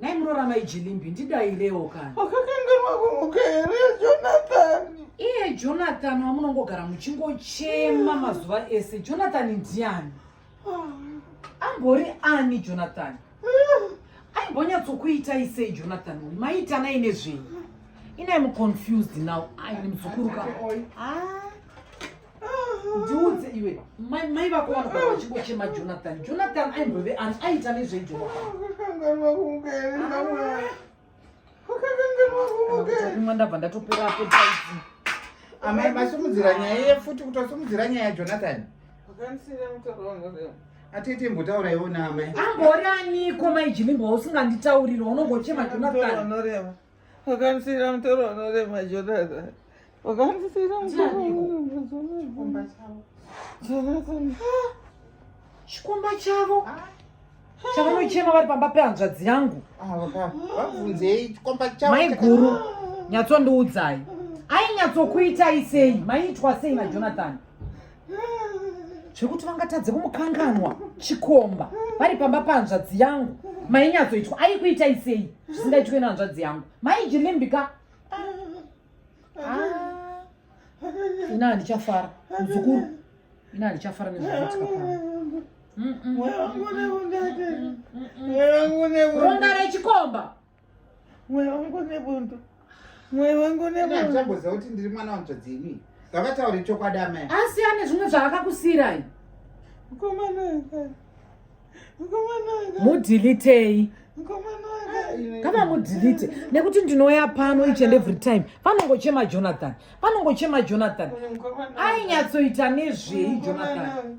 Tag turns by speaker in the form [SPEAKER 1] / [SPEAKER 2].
[SPEAKER 1] Nhai muroora mai Jilimbi ndidairewo kana. Wakakanganwa kumuka
[SPEAKER 2] here Jonathan? Iye Jonathan
[SPEAKER 1] wamunongogara muchingochema ah. mazuva ese. Jonathan ndiani? Ah. Ambori ani Jonathan? Ah. Aimbonyatsokuitai sei Jonathan? Maitanai nezvenyu? Inai muconfused now. Ai muzukuru ka. Ah. ndiudze iwe mai vako vanogara vachingochema jonathan jonathan aimbove ani aita
[SPEAKER 2] nezveijoakanganwakumwe
[SPEAKER 1] ndabva ndatopera apo taiti amai
[SPEAKER 3] masumudzira nyaya iye futi kuti wasumudzira nyaya yajonathan
[SPEAKER 2] atete mbotaura
[SPEAKER 3] iwo naamai amboraniko
[SPEAKER 1] mai jimimbo usinganditauriro unongochema jonathan
[SPEAKER 2] Wakanisira mtoro wanorema Jonathan. Wakanisira mtoro wanorema Jonathan. Jonathan.
[SPEAKER 1] Chikomba chavo. Chavanochema vari pamba pehanzvadzi yangu. Vabvunzei
[SPEAKER 3] chikomba chavo. Mai guru,
[SPEAKER 1] nyatsondiudzai. Ainyatsokuitai sei? Maitwa sei na Jonathan? zvekuti vangatadze kumukanganwa chikomba vari pamba pahanzvadzi yangu mainyatsoitwa aikuita isei zvisingaitwe nehanzvadzi yangu maijilimbika ah. ina handichafara muzukuru ina handichafara nezvaitika pano ronda rechikomba mweya
[SPEAKER 2] wangu nebundu mweya wangu nebunduchamboziva kuti ndiri mwana
[SPEAKER 3] wanzvadzi ini ngavataure chokwadi amai asi ane zvimwe
[SPEAKER 1] zvaakakusiirai mukomana mukomana mudhilitei kana mudhilite nekuti ndinouya pano each and every time panongochema jonathan panongochema jonathan ainyatsoita nezvei jonathan